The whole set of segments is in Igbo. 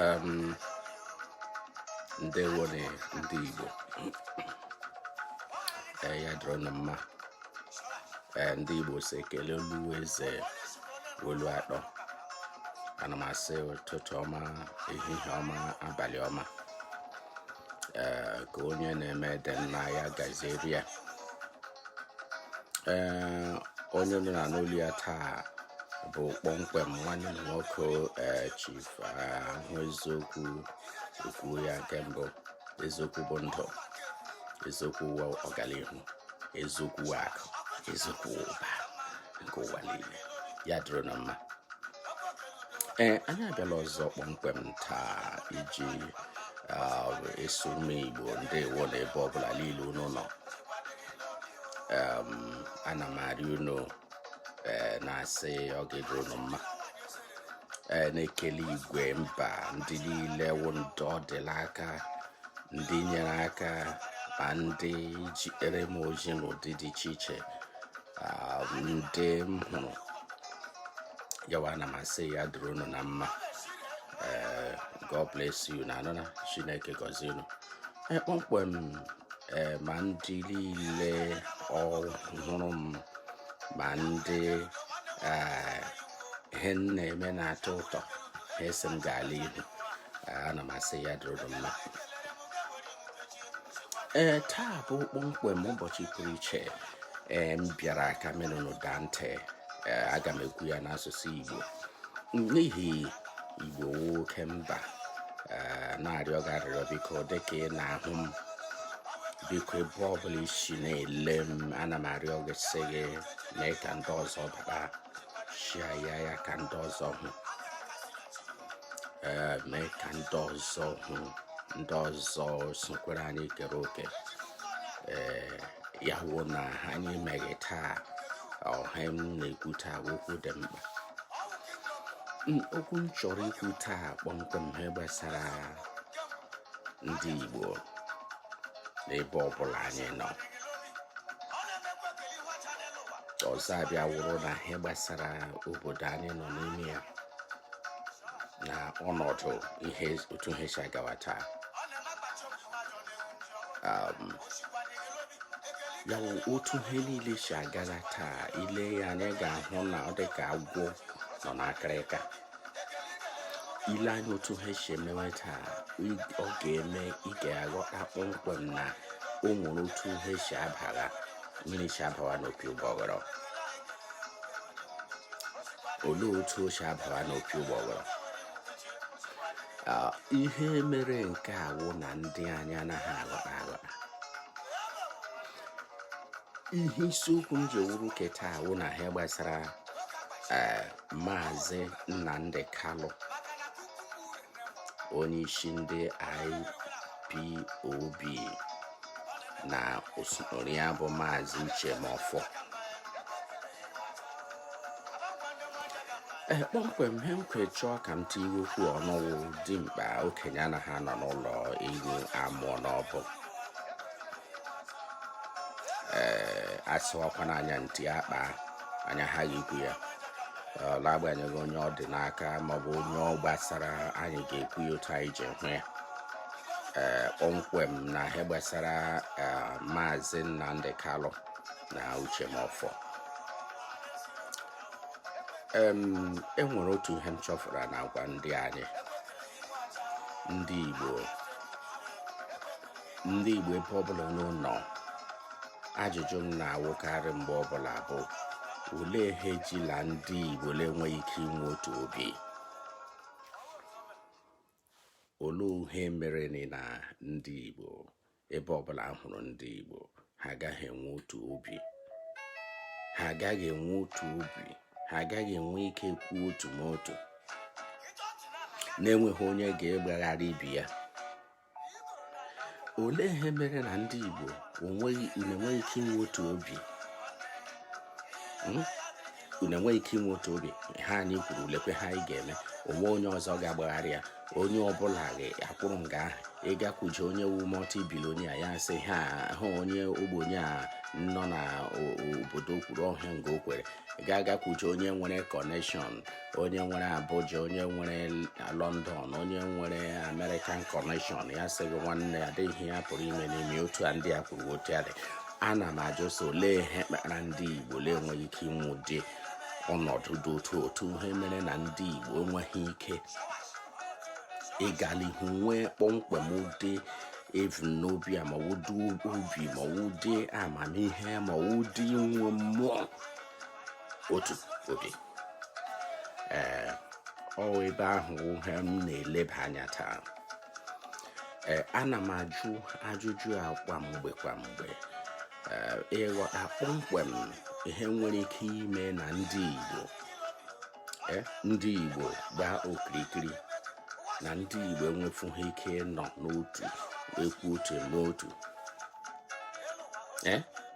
um, ndewo nụ ndị Igbo eh, ya dịrị na mma eh, ndị Igbo sị ekele olu eze olu atọ ana m asị ụtụtụ ọma ehihie ọma abalị ọma eh, ka onye na-eme dị mma ya gaziere ya ee onye unu na-anụ olu ya taa bụ kpọmkwem nwanne unu nwoke ee chief ahụ eziokwu ekwuo ya nke mbụ eziokwu bụ ndụ eziokwu ọganihu eziokwu akụ eziokwu ụba nke ụwa niile ya dịrị na mma ee anyị abịala ọzọ kpọmkwem taa iji ah, asị ụmụ igbo ndewo nụ ebe ọbụla niile unu nọ ana m arịọ unu eh, na-asị ọ ga-adịrị unu mma eh, na-ekele igwe mba ndị niile wụ ndị ọ dịla aka ndị nyere aka ma ndị jeere m ozi n'ụdị dị iche iche ndị m hụrụ n'anya ana m asị ya dịrị unu na mma eh, God bless you na anụna Chineke gọzie unu eh, kpọmkwem eh, ma ndị niile ọhụrụ m ma ndị ihe m na-eme na-atọ ụtọ ha asị m gaa n'ihu ana m asị ya dịrị unu mma ee taa bụ kpọmkwem ụbọchị pụrụ iche ee m bịara ka m mee unu daa ntị ee aga m ekwu ya n'asụsụ igbo n'ihi igbo wụ oke mba ee na-arịọ gị arịrịọ biko dịka ị na-ahụ m biko ebe ọbụla i si na-ele m ana m arịọ gị sị gị mee ka ndị ọzọ bata share ya ya ka ndị ọzọ hụ ee mee ka ndị ọzọ hụ ndị ọzọ sokwere anyị kere oke ee ya wụ na anyị meghị taa ihe m na-ekwu taa okwu dị mkpa okwu m chọrọ ikwu taa kpọmkwem ihe gbasara ndị Igbo n'ebe ọbụla anyị nọ ọzọ abịa wụrụ na ihe gbasara obodo anyị nọ n'ime ya na ọnọdụ ihe otu ihe si agawa taa um, ya wụ otu ihe niile si agaza taa i lee ya anya ga-ahụ na ọ dị ka agwọ nọ n'akịrịka i lee anya otu ha si emewe taa ọ ga-eme ị ga-aghọta kpọmkwem na o nwere otu ha si abara mmiri si abawa n'opi ụgbọghọrọ olee otu o si abara n'opi ụgbọghọrọ ihe mere nke a wụ na ndị anyị anaghị aghọta aghọta ihe isiokwu m ji ewuru ke taa wụ na ihe gbasara eh, maazị Nnamdi Kalụ onyeisi ndị IPOB na osote ya bụ maazị Uche Mefor ee kpọmkwem ihe m ji wee chọọ ka m tinye okwu ọnụ wụ dimkpa okenye anaghị anọ n'ụlọ ewu amụọ n'ọgbụ ee a sịwakwa n'anya ntị akpa anya ha ikwu ya n'agbanyeghị onye ọ dị n'aka maọbụ onye ọ gbasara anyị ga-ekwu ya otu anyị ji hụ ya ee kpọmkwem na ihe gbasara maazị Nnamdi Kalụ na Uche Mefor e nwere otu ihe m chọfụra n'agwa ndị anyị ndị Igbo ndị Igbo ebe ọbụla unu nọ ajụjụ m na-awụkarị mgbe ọbụla bụ olee ihe e jila ndị Igbo na-enweghị ike inwe otu obi olee ihe mere na ndị Igbo ebe ọbụla a hụrụ ndị Igbo ha agaghị enwe otu obi ha agaghị enwe otu obi ha agaghị enwe ike kwuo otu n'otu na-enweghị onye ga-agbagharị ibe ya olee ihe mere na ndị Igbo enweghị ike inwe otu obi hmm? unu enweghị ike inwe otu obi ihe anyị kwuru lekwe ihe anyị ga-eme o nweghị onye ọzọ ga-agbagharị ya onye ọbụla ga-akwụrụ nga ahụ ị gakwuje onye wụ multi billionaire ya sị ihe ahụ onye ogbenye a nọ na obodo kwuru ọ wụghị nga o kwere ga-agakwuje onye nwere connection onye nwere Abuja onye nwere London onye nwere American connection ya sị gị nwanne ọ dịghị ihe a pụrụ ime n'ime otu a ndị a kwuru otu a dị ana m ajụ so olee ihe kpara ndị Igbo na-enweghị ike inwe ụdị ọnọdụ dị otu otu ihe mere na ndị Igbo enweghị ike ịga n'ihu nwee kpọmkwem ụdị ebumnobi a ma ụdị obi ma ụdị amamihe ma ụdị inwe mmụọ otu obi ee ọ ebe ahụ wụ ihe m na-eleba anya taa ee ana m ajụ ajụjụ a kwa mgbe kwa mgbe ịghọta kpọmkwem ihe nwere ike ime na ndị Igbo ndị Igbo gbaa okirikiri na ndị Igbo enwefughị ike nọ n'otu ekwu otu n'otu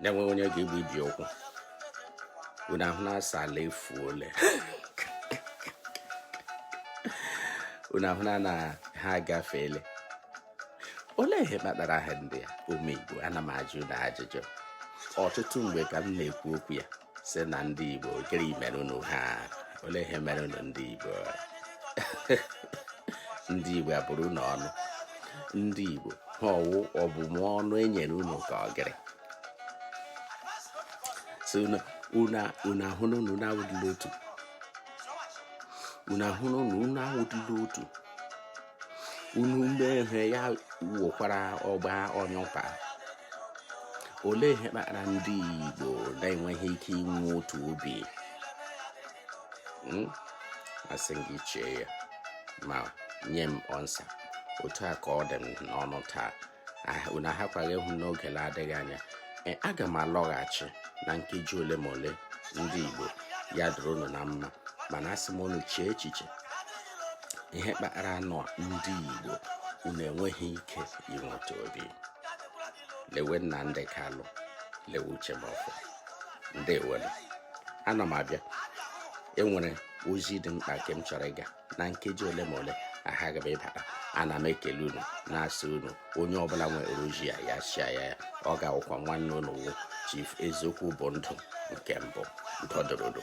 na-enweghị onye ga-egbubi okwu unu ahụ na-asa ala efuole unu ahụna na ha agafeele olee ihe kpatara ihe ndị a ụmụ igbo ana m ajụ unu ajụjụ ọtụtụ mgbe ka m na-ekwu okwu ya sị na ndị igbo gịrị mere unu ha olee ihe mere unu ndị igbo ndị igbo a bụrụ unu ọnụ ndị igbo ha ọ wụ ọbụmụ ọnụ enyere unu ka ọ gịrị si unu ahụ na unu na-awụdịla otu unu ahụ na unu na-awụdịla otu unu mee ihe ya wuokwara ọgba onye ụka olee ihe kpatara ndị Igbo na-enweghị ike inwe otu obi hmm? asị m gị chee ya ma nye m answer otu a ka ọ dị m n'ọnụ taa unu ahakwaghị ịhụ n'oge na-adịghị anya e, aga m alọghachi na nkeji ole ma ole ndị Igbo ya dịrị unu na mma mana asị m unu chee echiche ihe kpatara unu ndị Igbo unu enweghị ike inwe otu obi lewe Nnamdi Kanu lewe Uche Mefor ndewonụ ana m abịa enwere ozi dị mkpa nke m chọrọ ịga na nkeji ole ma ole aha aga m ịbata ana m ekele unu na-asị unu onye ọbụla nwere oji ya ya chia ya ya ọ ga-awụkwa nwanne unu wu chief eziokwu bụ ndụ nke mbụ dọdụrụdụ